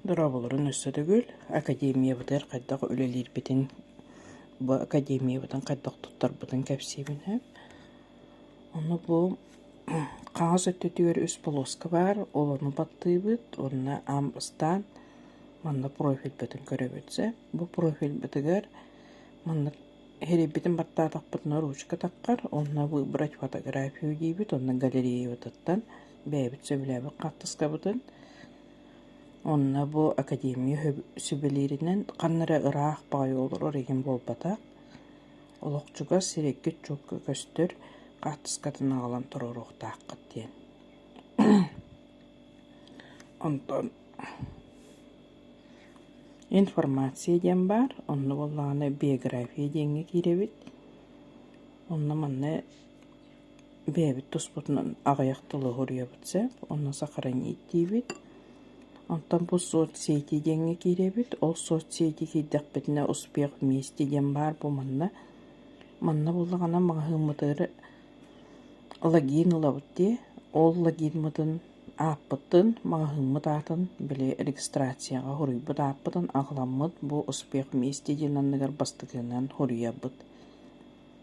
Дорооболорун өссө төгүл, академиябытыгар хайдах үлэлиирбитин, бу академиябытын хайдах туттарбытын кэпсиибин сөп. Онно бу хаҥас өттүтүгэр үс болуоска баар, ол ону баттыыбыт уонна ам ыстаан манна профильбытын көрөбүт сөп. Бу профильбытыгар манна эрийбитин баттаатахпытына ручка таххар, уонна выбрать фотографию диибит уонна галереябытыттан бэйэбит сөбүлээбит хаартыскабытын онно бу академия сүбэлииринэн ханна эрэ ыраах баҕайы олорор игин буолбатах олох чугас сирэйгит-чуокка көстөр хаартыскатын аҕалан туруоруохтааххыт диэн онтон информация диэн баар онно буоллаҕына биография диэҥҥэ киирэбит онно манна Бэйэбит туспутунан аҕыйах тылы суруйабыт сөп, онно сохранить диибит. Онтон бу соцсети диэҥҥэ киирэбит, ол соцсети киирдэхпитинэ «Успех вместе» диэн баар бу манна. Манна буоллаҕына маҕаһыыммытыгар логин ылабыт дии, ол логиммытын ааппытын, маҕаһыыммыт аатын били регистрацияҕа суруйбут ааппытын аҕаламмыт бу «Успех вместе» диэн анныгар бастакынан суруйарбыт.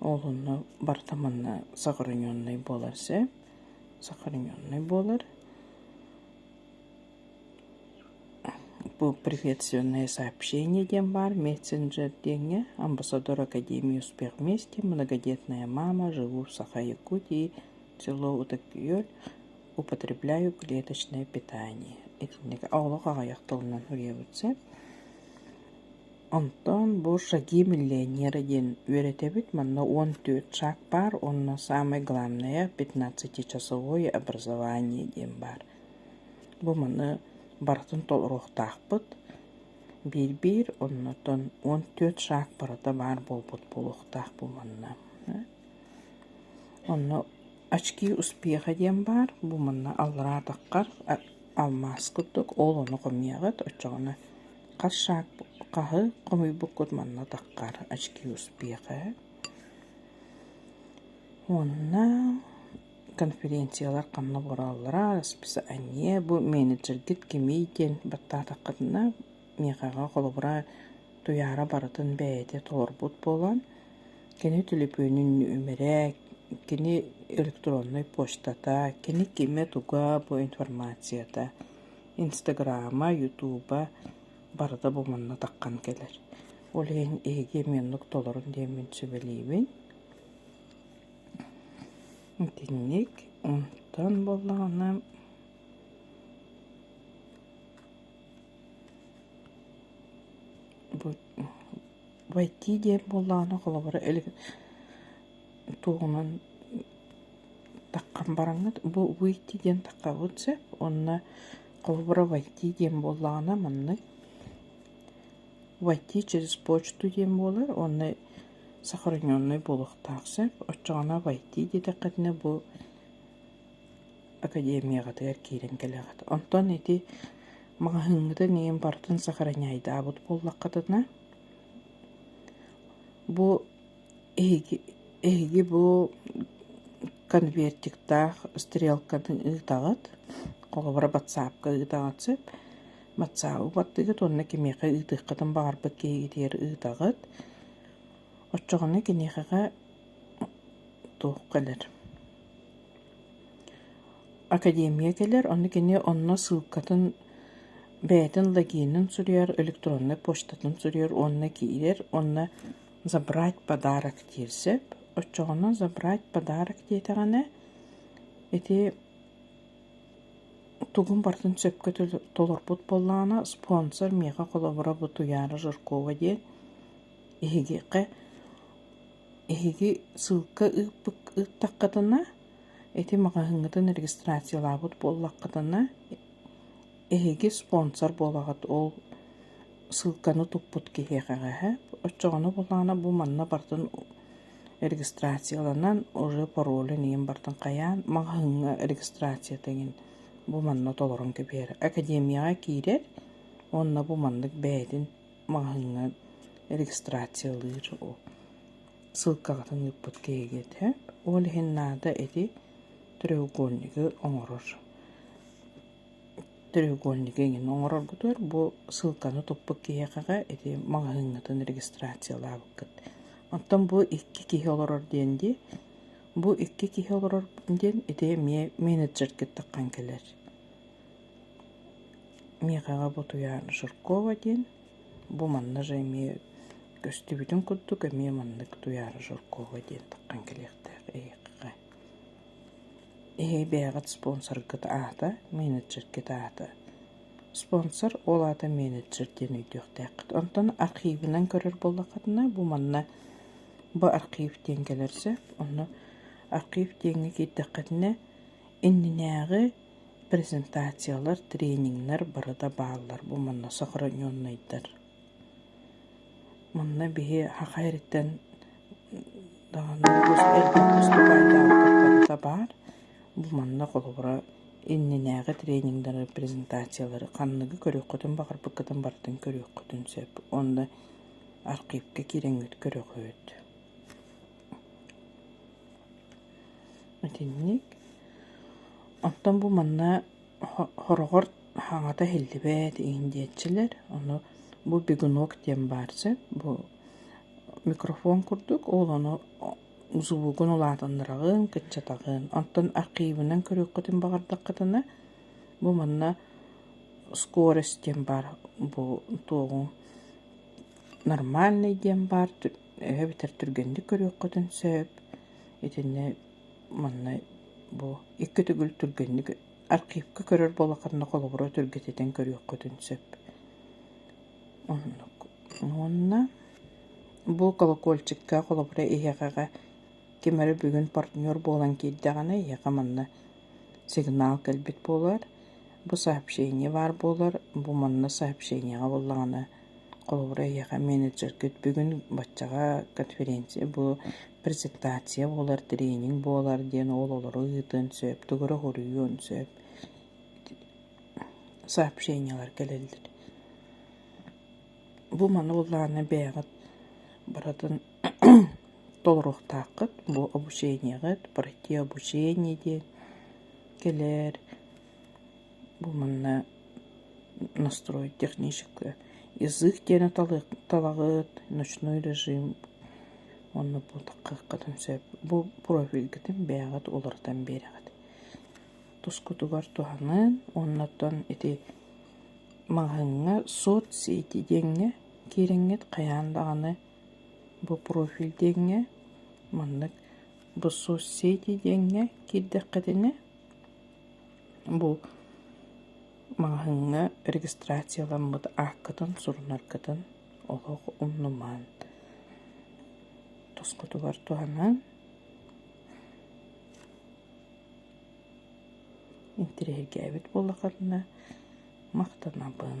Ол онно барыта манна сохраненнай буолар сөп. Сохраненнай буолар. Бу приветственное сообщение диэн баар мессенджер диэҥҥэ амбассадор Академии успех вместе, многодетная мама, живу в Саха-Якутии, село Утык-Күөл, употребляю клеточное питание. Итинник олох аҕыйах тылынан уйуубут сөп. Онтон бу «Шаги миллионера» диэн үөрэтэбит, манна уон түөрт шаг баар уонна саамай главное – пятнадцатичасовое образование диэн баар. Бу маны барытын толоруохтаахпыт. Биир-биир, оннуттан уон түөрт шаг барыта баар буолбут буолуохтаах буоланна. Онно «Очки успеха» диэн баар. Бу манна аллараа таххар алмаас курдук, ол ону хомуйаҕыт, оччоҕуна Харшаҕаһы хомуйбуккут манна таххар очки успеха уонна конференциялар ханна бараллара расписание бу менеджергит кимий диэн баттаатаххытына миэхэҕэ холобура туйаара барытын бэйэтэ толорбут буолан кини телефонун нүмэрэ кини электроннай почтата кини кимэ туга бу информацията Инстаграма, ютуба барыта бу манна таххан кэлэр. Ол иһин эһиги муннук толорун диэммин сүбэлиибин. Итинник. Онтон боллаҕына войти диэн буоллаҕына холобура илик туоһунан таххан бараҥҥыт бу выйти диэн таххабыт сөп уонна холобура войти диэн буоллаҕына маннык войти через почту диэн буолар уонна сохраненный буолуохтаах сөп оччоҕуна войти диэтэххитинэ бу академияҕытыгар киирэн кэлэҕит онтон ити маҕаһыыҥҥытын иһин бартын сохраняйдаабыт буоллаххытына бу Эһиги, эһиги бу конвертиктаах стрелканы ыытаҕыт, холобура батсаапка ыытаҕыт сөп. Батсаабы бардыгыт уонна кимиэхэ ыытыаххытын баҕарбыт киһигитигэр ыытаҕыт. Оччоҕуна киниэхэҕэ туох кэлэр? Академия кэлэр, онно кини онно ссылкатын бэйэтин логинын суруйар, электроннай почтатын суруйар уонна киирэр уонна Забрать подарок диир сөп. Оччоҕуна забрать подарок диэтэҕинэ, ити тугун барытын сөпкө толорбут буоллаҕына, спонсор миэхэ холобура бу Туйаара Жиркова диэн эһигиэхэ эһиги ссылка ыыппыт ыыттаххытына, ити маҕаһыыҥҥытын регистрациялаабыт буоллаххытына, Эһиги спонсор буолаҕыт ол ссылканы туппут киһиэхэ эҕэһэ. Оччоҕуна булаана бу манна бартын регистрацияланан уже паролун ийин бартын хайаан маҕаһыҥҥа регистрацията иҥин бу манна толорон кэбиһэр. Академияҕа киирэр уонна бу маннык бэйэтин маҕаһыҥҥа регистрациялыыр ол ссылкаҕытын ыыппыт киһигитэ. Ол иһин наада эти треугольнигы оҥорор. Треугольнигы эҥин оҥороргутугар бу ссылканы туппут киһиэхэҕэ ити маҕаһыыҥҥытын регистрациялаабыккыт. Оттон бу икки киһи олорор диэн дии, бу икки киһи олорор диэн ити эмиэ менеджергит таххан кэлэр. Миэхэҕэ бу Туйаара Жиркова диэн, бу манна же эмиэ көстүбүтүн курдук эмиэ маннык Туйаара Жиркова диэн таххан кэлиэхтээх эйиэхэ. Эһиги бэйэҕит спонсоргыт аата, менеджергит аата. Спонсор ол аата менеджер диэн өйдүөхтээххит. Онтон архивынан көрөр буоллаххытына, бу манна бу архив диэн кэлэр сөп. Онно архив диэҥҥэ киирдэххитинэ, иннинээҕи презентациялар, тренингнэр бары да бааллар. Бу манна сохраненнайдар. Онно биһи аҕа эрдэттэн даҕаны олус элбэх уступаайдаахтык барыта баар. Бу манна холобура иннинээҕи тренингдары, презентациялары ханныгы көрүөххүтүн баҕарбыккытын барытын көрүөххүтүн сөп. Онно архивка киирэҥҥит көрүөххүт. Итинник. Оттон бу манна Хороҕор хаҥата иһиллибэт иһиндиэччилэр, ону бу бегунок диэн баар сөп, бу микрофон курдук, ол ону звугун улаатыннараҕын, кыччатаҕын. Оттон архивынан көрүөххүтүн баҕардаххытына, бу манна скорость диэн баар бу туоҕуҥ нормальный диэн баар, эбэ бүтэр түргэнник көрүөххүтүн сөп. Итиннэ Манна бу икки төгүл түргэнник архивка көрөр буолаххытына, холобура түргэтитэн көрүөххүтүн сөп. Оннук. Уонна бу колокольчикка, холобура, эһиэхэҕэ ким эрэ бүгүн партнер буолан киирдэҕинэ, эһиэхэ манна сигнал кэлбит буолар. Бу сообщение баар буолар. Бу манна сообщениеҕа буоллаҕына Холобура, эһиэхэ менеджергыт бүгүн баччаҕа конференция бу презентация буолар, тренинг буолар диэн оҕолору ыытыан сөп, төгүрүк уруйуон сөп. Сообщениелар кэлэллэр. Бу маны буллааны бэйэҕит барытын толоруохтааххыт, бу обучениеҕыт, пройти обучение диэн кэлэр. Бу манна настрой техническое язык диэни талаҕыт, ночной режим уонна бу такыаххытын сөп. Бу профильгытын бэйэҕит уларытан биэрэҕит. Тускутугар туһанан уонна оттон ити маҕаһыыҥҥа соцсети диэҥҥэ киириҥҥит хайаан даҕаны бу профиль диэҥҥэ маннык бу соцсети диэҥҥэ киирдэххитинэ Бу маҕаһыыҥҥа регистрацияламмыт ааккытын, сурунаргытын олох умнумаан тосхотугар туһанан интириэһиргээбит буоллаххытына махтанабын.